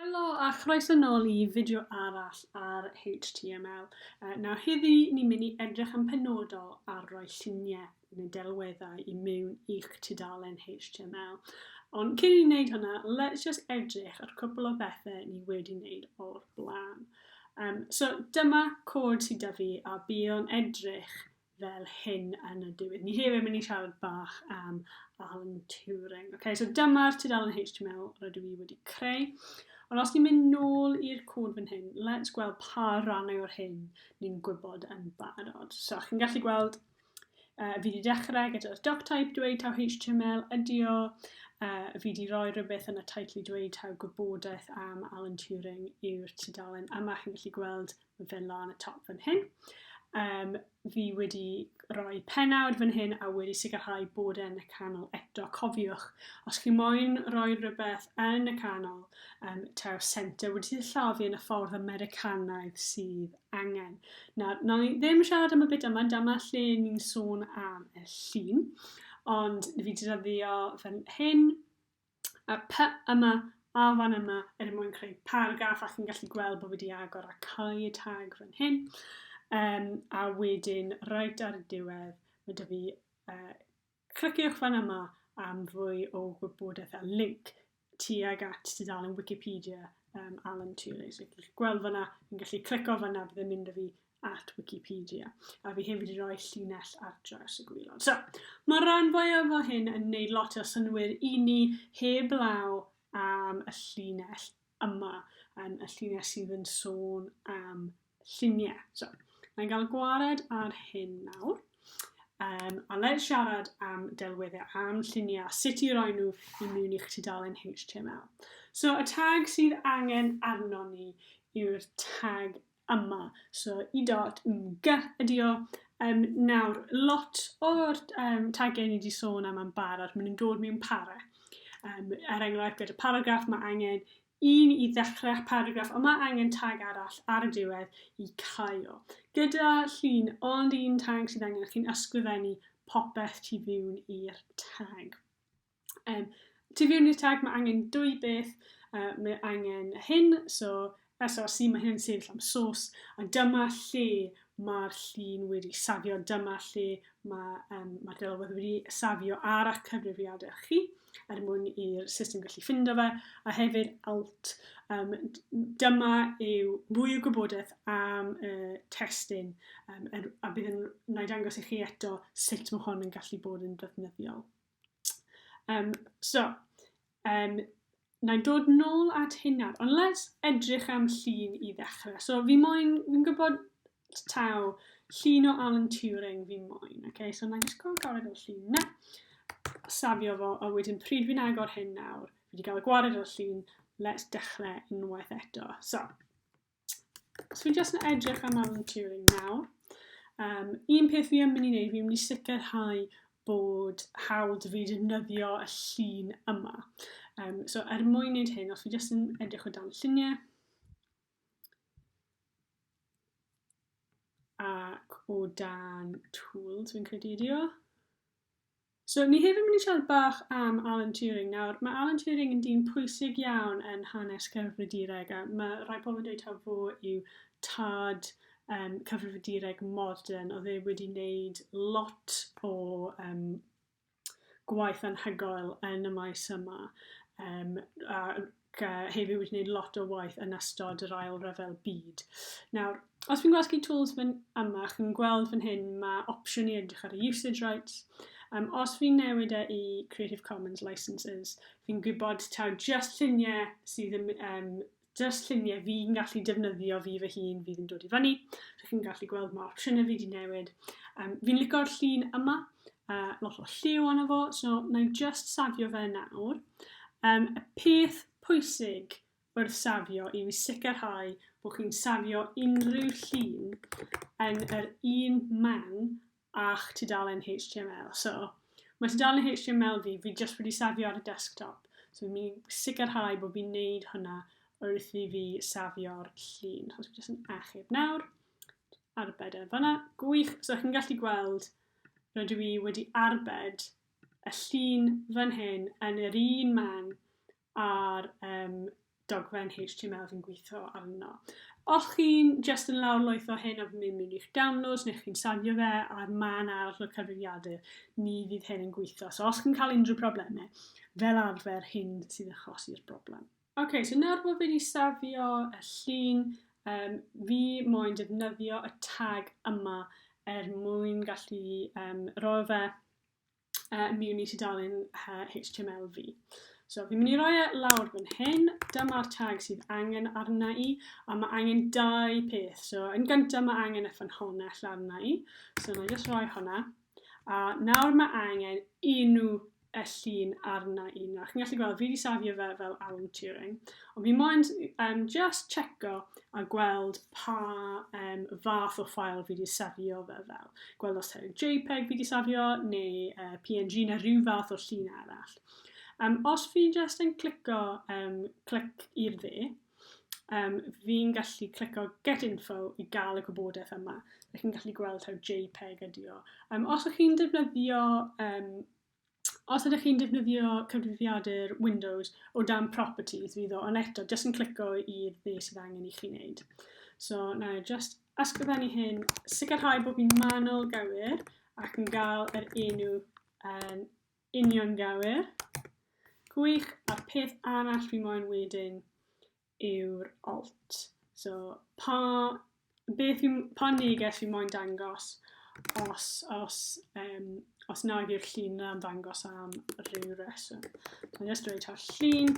Helo a chroeso nôl i fideo arall ar HTML. Uh, nawr heddi ni'n mynd i edrych yn penodol ar roi lluniau neu delweddau i mewn i'ch tudalen HTML. Ond cyn i wneud hwnna, let's just edrych ar cwpl o bethau ni wedi wneud o'r blaen. Um, so dyma cod sydd da fi a bydd o'n edrych fel hyn yn y diwedd. Ni hefyd mynd i siarad bach am Alan Turing. Okay, so dyma'r tudalen HTML rydw i wedi creu. Ond os ni'n mynd nôl i'r cod fan hyn, let's gweld pa rannau o'r hyn ni'n gwybod yn barod. So, chi'n gallu gweld, uh, fi wedi dechrau gyda'r doc type dweud taw HTML ydi o, uh, fi wedi rhoi rhywbeth yn y teitl i dweud taw gwybodaeth am Alan Turing yw'r tudalen yma. Chi'n gallu gweld fel lan y top fan hyn. Um, fi wedi rhoi penawd fan hyn a wedi sicrhau bod e'n y canol eto. Cofiwch, os chi moyn rhoi rhywbeth yn y canol, um, tew centre wedi sillafu yn y ffordd Americanaidd sydd angen. Na, na ni ddim siarad am y byd yma, dyma lle ni'n sôn am y llun, ond fi wedi dyddio fan hyn, a py yma a fan yma er mwyn creu paragraff a chi'n gallu gweld bod fi wedi agor a cau y tag fan hyn um, a wedyn reit ar y diwedd mae dy fi uh, cliciwch fan yma am fwy o gwybodaeth a link tuag at tudalen Wikipedia um, Alan Turing. So, chi'n gallu gweld fyna, chi'n gallu clico fyna, bydd yn mynd â fi at Wikipedia, a fi hefyd i roi llinell ar draws y gwylod. So, mae'r rhan fwyaf o hyn yn neud lot o synwyr i ni heb law am y llinell yma, yn y llinell sydd yn sôn am lluniau. So, mae'n cael gwared ar hyn nawr. Um, a le siarad am delweddau, am lluniau, sut i roi nhw i mewn i'ch tudalen HTML. So, y tag sydd angen arno ni yw'r tag yma. So i dot mg ydi o. Um, nawr, lot o'r um, tagiau ni wedi sôn am yn barod, maen nhw'n dod mewn para. Um, er enghraifft, gyda paragraff mae angen un i ddechrau paragraff, ond mae angen tag arall ar y diwedd i cael. Gyda llun ond un tag sydd angen, chi'n ysgrifennu popeth tu fiwn i'r tag. Um, to view new tag, mae angen dwy beth. Uh, mae angen hyn, so SRC, mae hyn yn sefyll am sos, a dyma lle mae'r llun wedi safio, dyma lle mae, um, mae delwedd wedi safio ar eich cyfrifiadau chi er mwyn i'r system gallu ffindo fe, a hefyd alt. Um, dyma yw mwy o gwybodaeth am y uh, testyn um, er, a bydd yn wneud angos i chi eto sut mae hon yn gallu bod yn ddefnyddiol. Um, so, um, na i dod nôl at hynna, ond let's edrych am llun i ddechrau. So, fi moyn, fi'n gwybod taw llun o Alan Turing fi moyn. Okay? So, na i just gael gwared o'r llun na. Safio fo, a wedyn pryd fi'n agor hyn nawr, fi wedi cael gwared o'r llun, let's dechrau unwaith eto. So, So fi'n just yn edrych am Alan Turing nawr. Um, un peth fi yn mynd i wneud, fi'n mynd i sicrhau bod hawdd fi defnyddio y llun yma. Um, so er mwyn wneud hyn, os fi jyst yn edrych o dan lluniau, ac o dan tools fi'n credu ydi o. So, ni hefyd yn mynd i siarad bach am Alan Turing. Nawr, mae Alan Turing yn dyn pwysig iawn yn hanes cyfrifiadureg, a mae rhai pobl yn dweud taw fo yw tad um, cyfrifiadureg modern, oedd e wedi wneud lot o um, gwaith anhygoel yn y maes yma. Um, a hefyd wedi gwneud lot o waith yn ystod yr ail rhyfel byd. Nawr, os fi'n gwasgu tools fan yma, chi'n gweld fan hyn mae opsiwn i edrych ar y usage rights. Um, os fi'n newid e i Creative Commons licenses, fi'n gwybod taw just lluniau sydd yn, um, just lluniau fi'n gallu defnyddio fi fy hun fydd yn dod i fyny. So chi'n gallu gweld mae opsiynau fi wedi newid. Um, fi'n licio'r llun yma, a lot o lliw arno fo, so na i'n just safio fe nawr. Um, y peth pwysig wrth safio i fi sicrhau bod chi'n safio unrhyw llun yn yr un man a'ch tudalen HTML. So, mae tudalen HTML fi, fi just wedi safio ar y desktop. So, fi'n mynd sicrhau bod fi'n neud hwnna wrth i fi safio'r llun. So, fi just yn achub nawr. Arbed e fanna. Gwych. So, chi'n gallu gweld rydw i wedi arbed y llun fan hyn yn yr un man a'r um, dogfen HTML fi'n gweithio arno. Os chi'n just yn lawr loeth o hyn a fi'n mynd i'ch downloads neu chi'n safio fe ar man arall o'r cyfrifiadur, ni fydd hyn yn gweithio. So os chi'n cael unrhyw problemau, fel arfer hyn sy'n achosi'r broblem. Ok, so nawr bod fi wedi safio y llun, um, fi moyn defnyddio y tag yma er mwyn gallu um, roi fe uh, mewn i tudalen uh, HTML fi. So fi'n mynd i roi e lawr fan hyn, dyma'r tag sydd angen arna i, a mae angen dau peth. So yn gyntaf mae angen y ffynhonnell arna i, so na i just roi hwnna. A nawr mae angen un nhw y llun arna i nawr. Chi'n gallu gweld, fi wedi safio fe fel Alan Turing. Ond fi moyn um, just checo a gweld pa um, fath o ffael fi wedi safio fe fel. Gweld os ta'n JPEG fi wedi safio, neu uh, PNG, neu rhyw fath o llun arall. Um, os fi just yn clico um, clic i'r dde, um, fi'n gallu clicio get info i gael y gwybodaeth yma. Rydych chi'n gallu gweld taw JPEG ydi o. Um, os ydych chi'n defnyddio um, os ydych chi'n defnyddio cyfrifiadur Windows o dan properties fydd o, ond eto, jyst yn clicio i be sydd angen i chi wneud. So, na, just ysgrifennu hyn, sicrhau bod fi'n manol gywir ac yn gael yr enw um, Uniongywir. Gwych, a'r peth arall fi moyn wedyn yw'r alt. So, pa, beth fi, pa neges fi moyn dangos os, os, um, os nag yw'r llun yna'n dangos am rhyw reswm. So, I'm just dweud ta'r llun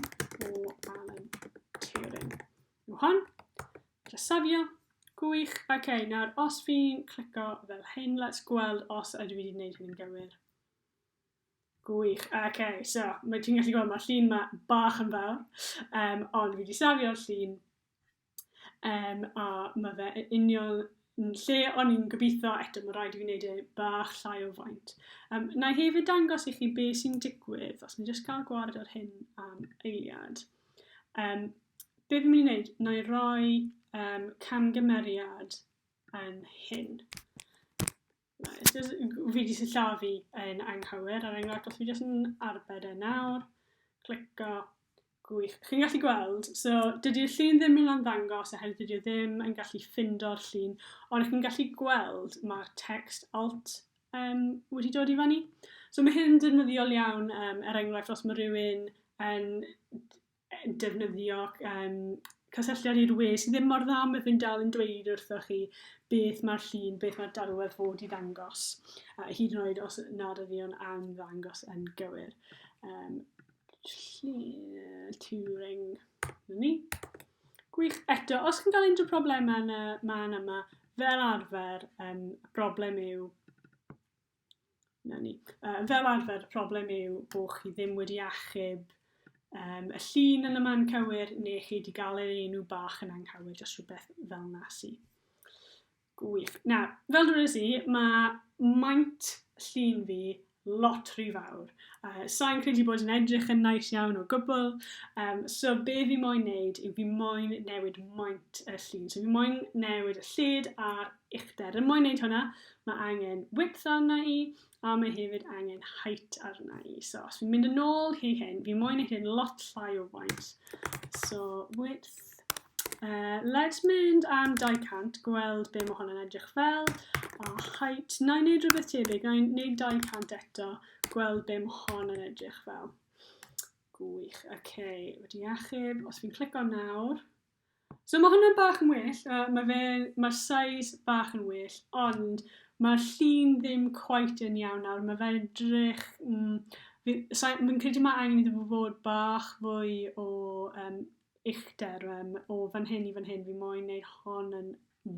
o Alan Turing. Yw hon? Dresafio. Gwych. Oce, okay, nawr os fi'n clico fel hyn, let's gweld os ydw i wedi gwneud hyn yn gywir. Gwych, oce, so, mae ti'n gallu gweld, mae'r llun ma bach yn fawr, um, ond fi wedi safio'r llun, um, a mae fe yn union yn lle o'n i'n gobeithio, eto mae rhaid i fi wneud e bach llai o faint. Um, na i hefyd dangos i chi be sy'n digwydd, os ni'n just cael gwared ar hyn am eiliad. Um, be fi'n mynd i wneud, na i roi um, camgymeriad yn hyn. Nice. Just, fi wedi sillafu yn anghywir ar enghraifft, os fi jyst yn arbed e nawr, clico, gwych. Chi'n gallu gweld, so dydy'r llun ddim yn ymddangos oherwydd dydy o ddim yn gallu ffindo'r llun, ond chi'n gallu gweld mae'r text alt um, wedi dod i fannu. So mae hyn yn defnyddiol iawn, um, er enghraifft, os mae rhywun yn yy defnyddio yym cysylltiad i'r we sy ddim mor dda ma' fe'n dal yn dweud wrthoch chi beth ma'r llun, beth ma'r delwedd fod i ddangos, a hyd yn oed os nad ydi o'n am ddangos yn gywir. Um, llun Turing, ni. Gwych. Eto, os chi'n cael unrhyw problemau yn y man yma, fel arfer, um, y broblem yw 'na ni. Yy fel arfer y problem yw bo' chi ddim wedi achub yym y llun yn y man cywir ne' chi 'di ga'l yr enw bach yn anghywir jyst rhywbeth fel 'na sy. Gwych. Na, fel dwedais i ma' maint llun fi lot rhy fawr. Yy sai'n credu bod yn edrych yn nais iawn o gwbwl yym so be' fi moyn neud yw fi moyn newid maint y llun. So fi moyn newid y lled a'r uchder. Er mwyn wneud hwnna, mae angen width arna i, a mae hefyd angen height arna i. So, os fi'n mynd yn ôl hi hyn, fi moyn i hyn lot llai o faint. So, width. Uh, let's mynd am 200, gweld be mae hwnna'n edrych fel. A height, na i wneud rhywbeth tebyg, na i wneud 200 eto, gweld be mae hon yn edrych fel. Gwych, oce, okay. wedi achub, os fi'n clico nawr, So mae hwnna'n bach yn well, uh, mae fe, mae'r size bach yn well, ond mae'r llun ddim quite yn iawn nawr, mae fe'n edrych... Mm, Fi'n credu mae angen iddo fo fod bach fwy o um, uchder um, o fan hyn i fan hyn, fi moyn neud hon yn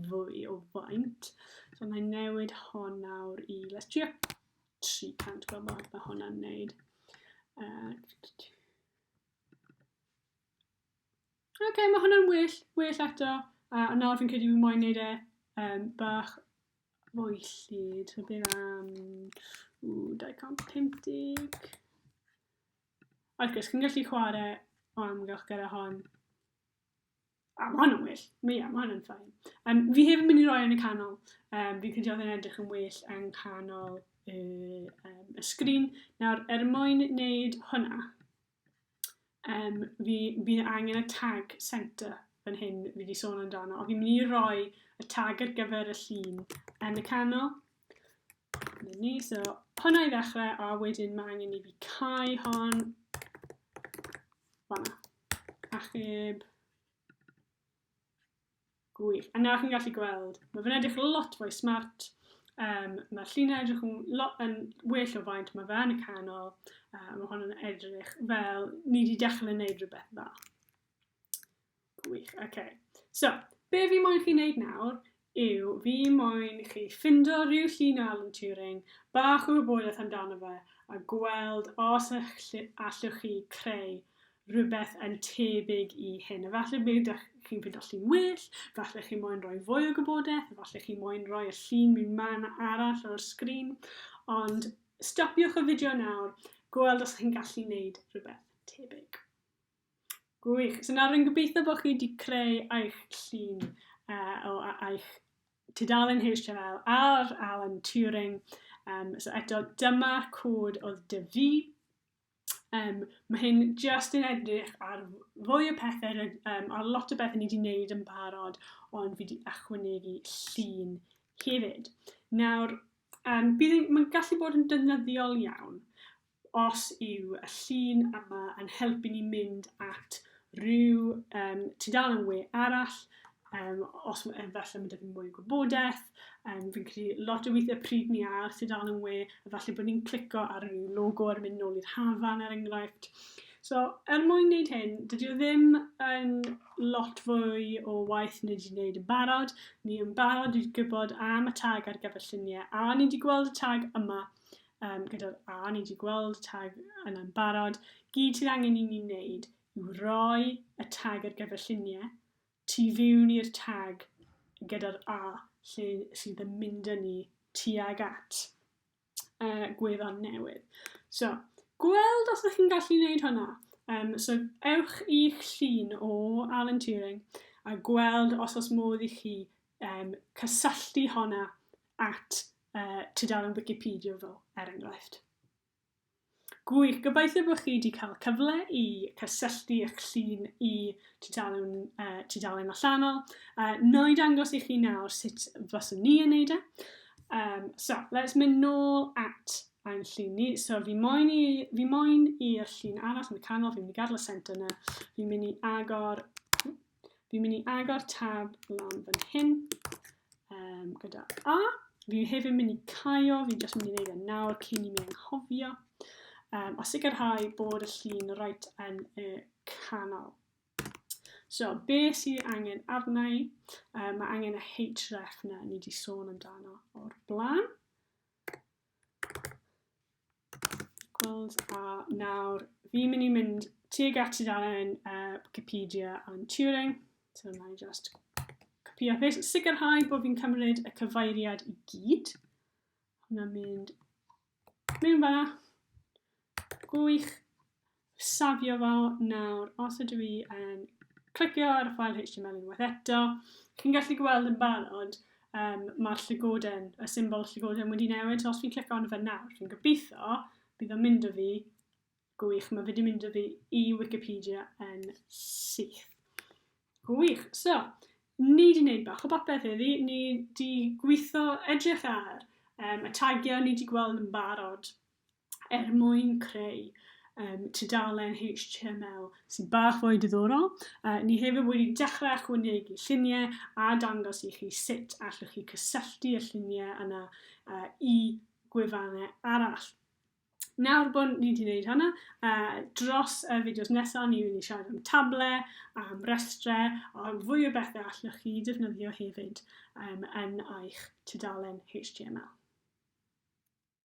fwy o faint. So mae newid hon nawr i, let's trio 300 gweld bod mae hwnna'n neud. Uh, Oce, okay, mae hwnna'n well, well eto. A, a nawr fi'n credu fi moyn neud e um, bach fwy llid. So bydd am... Ww, 250. Wrth gwrs, chi'n gallu chwarae o amgylch gyda hon. A, mae hwnna'n well. Mae, yeah, mae hwnna'n ffain. Um, fi hefyd yn mynd i roi yn y canol. Um, fi'n credu oedd yn edrych yn well yng nghanol y, um, y sgrin. Nawr, er mwyn wneud hwnna, Yym, fi, fi angen y tag centre fan hyn fi wedi sôn amdano, ond fi'n mynd i roi y tag ar gyfer y llun yn y canol. Dyna ni, so hwnna i ddechrau, a wedyn mae angen i fi cael hon. Fanna. Achub. Gwych. A na chi'n gallu gweld, mae fe'n edrych lot fwy smart. Um, mae llinau edrych yn, lot, yn well o faint mae fe yn y canol. Uh, mae hwn yn edrych fel ni wedi dechrau yn neud rhywbeth dda. Gwych, oce. Okay. So, be fi moyn chi wneud nawr yw fi moyn chi ffindo rhyw llun o Alan Turing, bach o wybodaeth amdano fe, a gweld os allwch chi creu rhywbeth yn tebyg i hyn. Efallai mi ydych chi'n ffindo llun well, efallai chi moyn rhoi fwy o gwybodaeth, efallai chi moyn rhoi y llun mewn man arall o'r sgrin, ond stopiwch y fideo nawr, gweld os chi'n gallu wneud rhywbeth tebyg. Gwych. So nawr yn gobeithio bod chi wedi creu eich llun uh, o eich tudalen HTML ar Alan Turing. Um, so eto, dyma'r cod oedd dyfu Yym, ma' hyn jyst yn edrych ar fwy o pethe ryd- yym ar lot o bethe ni 'di neud yn barod, ond fi 'di ychwanegu llun hefyd. Nawr, yym bydd yn ma'n gallu bod yn defnyddiol iawn os yw y llun yma yn helpu ni mynd at ryw yym tudalen we arall, Um, os mae efallai mae dydyn mwy o gwybodaeth, um, fi'n credu lot o weithiau pryd ni a sydd dal yn we, efallai bod ni'n clico ar y logo ar mynd nôl i'r hafan ar er enghraifft. So, er mwyn wneud hyn, dydy o ddim yn lot fwy o waith ni wedi wneud yn barod. Ni yn barod wedi gwybod am y tag ar gyfer lluniau, a ni wedi gweld y tag yma um, gyda'r A, ni wedi gweld y tag yna'n barod. Gyd sydd angen i ni wneud yw roi y tag ar gyfer lluniau Tu fewn i'r tag gyda'r A lle sydd yn mynd â ni tuag at uh, gwefan newydd. So, gweld os ydych chi'n gallu gwneud hwnna. Um, so, ewch i'ch llun o Alan Turing a gweld os os modd i chi um, cysylltu honna at uh, tudalen Wikipedia fel, er enghraifft. Gwych, gobeithio bod chi wedi cael cyfle i cysylltu eich llun i tudalen, uh, tudalen allanol. Uh, na i dangos i chi nawr sut fyswn ni yn neud e. Um, so, let's mynd nôl at ein llun ni. So, fi moyn i, fi moyn i'r llun arall yn y canol, fi'n mynd i gadw y centre yna, fi'n mynd i agor Fi'n mynd i agor tab lan fan hyn um, gyda A. Fi hefyd yn mynd i caio, fi'n just mynd i wneud e nawr cyn i mi anghofio. Um, a sicrhau bod y llun rhaid yn y canol. So, be sydd angen arna i? Um, mae angen y href na ni wedi sôn amdano o'r blaen. Gweld, a nawr fi'n mynd i mynd tuag at tudalen uh, Wikipedia am Turing. So na i just copio a paste. Sicrhau bod fi'n cymryd y cyfeiriad i gyd. Hwna'n mynd mewn fanna. Gwych. safio fo nawr, os ydw i yn clicio ar y ffael HTML unwaith eto, chi'n gallu gweld yn barod, um, mae'r llygoden, y symbol llygoden wedi newid, so os fi'n clicio arno fe nawr, fi'n gobeithio, bydd o'n mynd o fi, gwych, mae wedi mynd o fi i Wikipedia yn syth. Gwych, so, ni wedi gwneud bach o bopeth iddi, ni wedi gweithio edrych ar um, y tagiau ni wedi gweld yn barod er mwyn creu um, tudalen HTML sy'n bach fwy diddorol. Uh, ni hefyd wedi dechrau ychwanegu lluniau a dangos i chi sut allwch chi cysylltu y lluniau yna uh, i gwefannau arall. Nawr bod ni wedi gwneud hynna, uh, dros y fideos nesaf ni wedi siarad am table, am restrau, a fwy o bethau allwch chi defnyddio hefyd um, yn eich tudalen HTML.